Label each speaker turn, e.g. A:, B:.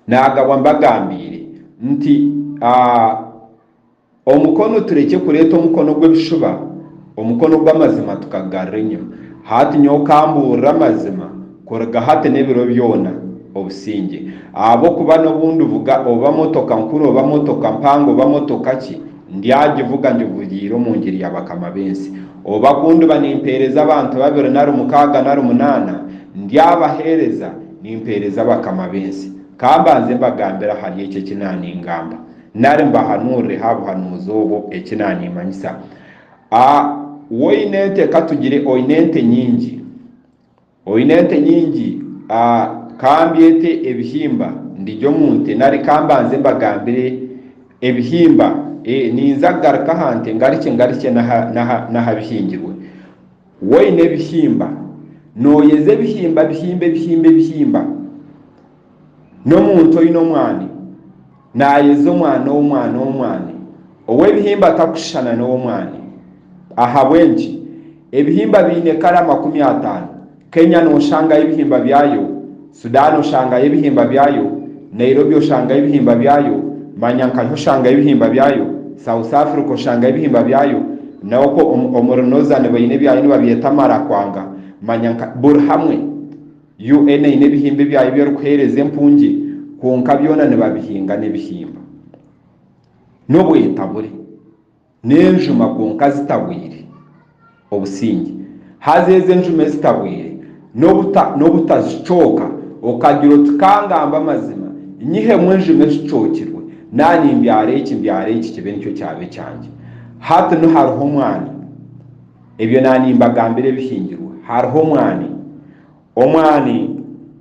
A: Naagabwa mbagambiire nti, Aa, omukono turekye kureeta omukono gw'ebishuba, omukono gw'amazima tukagugarura enyima. Hati nyowe kambuurire amazima kuruga hati n'ebiro byona, obusingye. Ahabw'okuba n'obu ndivuga oba motoka nkuru oba motoka mpango oba motoka ki, Ndyagivuga ngivugyeire omu ngiri ya bakama b'ensi. Oba ku ndiba nimpeereza abantu babiri nari mukaaga nari munaana, ndyabaheereza nimpeereza bakama b'ensi. Ka mbanze mbagambire ahari ekyo eki naaningamba, nari mbahanuurire ha buhanuuzi obwo eki naanimanyisa. A Woine ente, ka tugire oine ente nyingi. Oine ente nyingi? A Ka mbyete ebihimba, ndigye omu nte nari ka mbanze mbagambire ebihimba? E Ninza kugaruka aha nte ngarukye ngarukye n'aha n'aha n'aha bihingirwe. Woine ebihimba? Nooyeza ebihimba bihimba ebihimba ebihimba? n'omuntu oine omwani naayeza omwani ow'omwani ow'omwani ow'ebihimba atakushushana n'ow'omwani. Ahabw'enki? Ebihimba biine kare amakumi ataano. Kenya nooshangayo ebihimba byayo, Sudan oshangayo ebihimba byayo, Nairobi oshangayo ebihimba byayo, Manyankasha oshangayo ebihimba byayo, South Africa oshangayo ebihimba byayo, naho okwo omuri Northern baine ebyayo nibabyeta Marakwanga, Manyanka, buri hamwe. UN eine ebihimba ebyayo ebi erikuheereza empungye kwonka byona nibabihinga n'ebihimba. N'obwetabure. N'enjuma kwonka zitabwire. Obusingye. Haza ezo enjuma ezitabwire n'obuta, n'obuta zicooka, okagira oti ka ngambe amazima, nyihemu enjuma ezicookirwe, naaba nimbyara eki, mbyara eki kibe nikyo kyaba ekyangye. Hati nu hariho omwani. Ebyo na nimbagambira ebihingirwe hariho omwani, omwani.